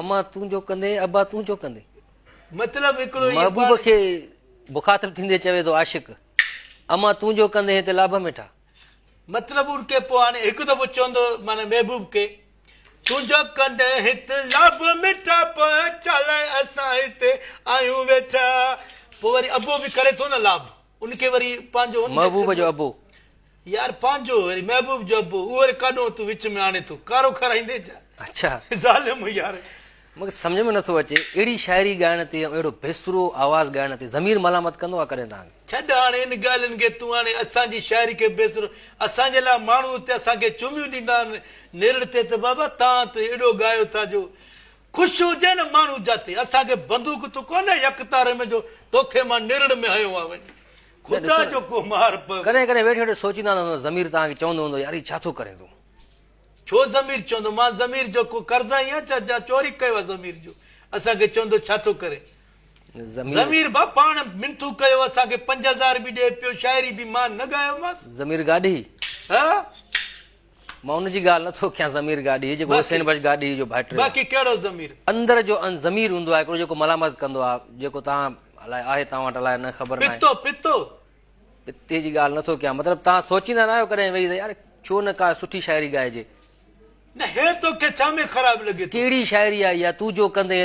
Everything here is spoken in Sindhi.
اما تون جو ڪندين ابا تون جو ڪندين مطلب هڪڙو ئي محبوب کي مخاطب ٿيندي چوي ٿو عاشق اما تون جو ڪندين هتي لابه مٺا مطلب ان کي پوء هاڻي هڪ دفعو چوندو معنی محبوب کي تون جو ڪندين هت لابه مٺا پوء چالائي اسان هتي آهيون ويٺا پوء وري ابو به ڪري ٿو نه لابه ان کي وري پنهنجو ان محبوب جو ابو. يار پنهنجو وري محبوب جو ابو اهو وري ڪاڏون تون وچ ۾ آڻي ٿو ڪارو کارائيندين ڇا اڇا ظالم يار. مونکي سمجهه ۾ نٿو اچي اهڙي شاعري ڳائڻ تي ۽ اهڙو بيسرو آواز ڳائڻ تي ضمير ملامت ڪندو آ ڪڏهن توهان کي. ڇڏ هاڻي ان ڳالهين کي تون هاڻي اسان جي شاعري کي بيسرو اسان جي لاء ماڻهو اتي اسان کي چوميون ڏيندا نرڙ تي ته بابا تان ته اهڙو ڳايو ٿا جو خوش هجي نه ماڻهو جاتي اسان کي بندوق تو ڪونهي يڪ تاري ۾ جو توکي مان نرڙ ۾ هنيو آ وڃي خدا جو ڪو مار پئي. ڪڏهن ڪڏهن ويٺي ويٺي سوچيندا هوندا ته ضمير توهان کي چوندو هوندو يار هي ڇا ٿو ڪرين تون. ڇو ضمير چوندو مان ضمير جو ڪو قرضائي آهيان ڇا جا چوري ڪيو آ ضمير جو اسان کي چوندو ڇا ٿو ڪرين. ضمير. ضمير ڀا پاڻ منٿون ڪيو اسان کي پنج هزار به ڏي پيو شاعري به مان نه ڳايو مانس. ضمير گاڏهي. ها. مان ان جي ڳالهه نٿو ڪيان ضمير گاڏهي جيڪو حسين بخش گاڏهي جو ڀائٽي باقي ڪهڙو ضمير اندر جو ان ضمير هوندو آهي هڪڙو جيڪو ملامت ڪندو آهي جيڪو تان الاء آهي تان وٽ الاء نه خبر ناهي پتو پتو پتي جي ڳالهه نٿو ڪيان مطلب تان سوچيندا نه آهيو ڪڏهن ويهي ته يار ڇو نه ڪا سٺي شاعري ڳائجي نه هي تو کي ڇا ۾ خراب لڳي ٿو ڪهڙي شاعري آهي يا تو جو ڪندين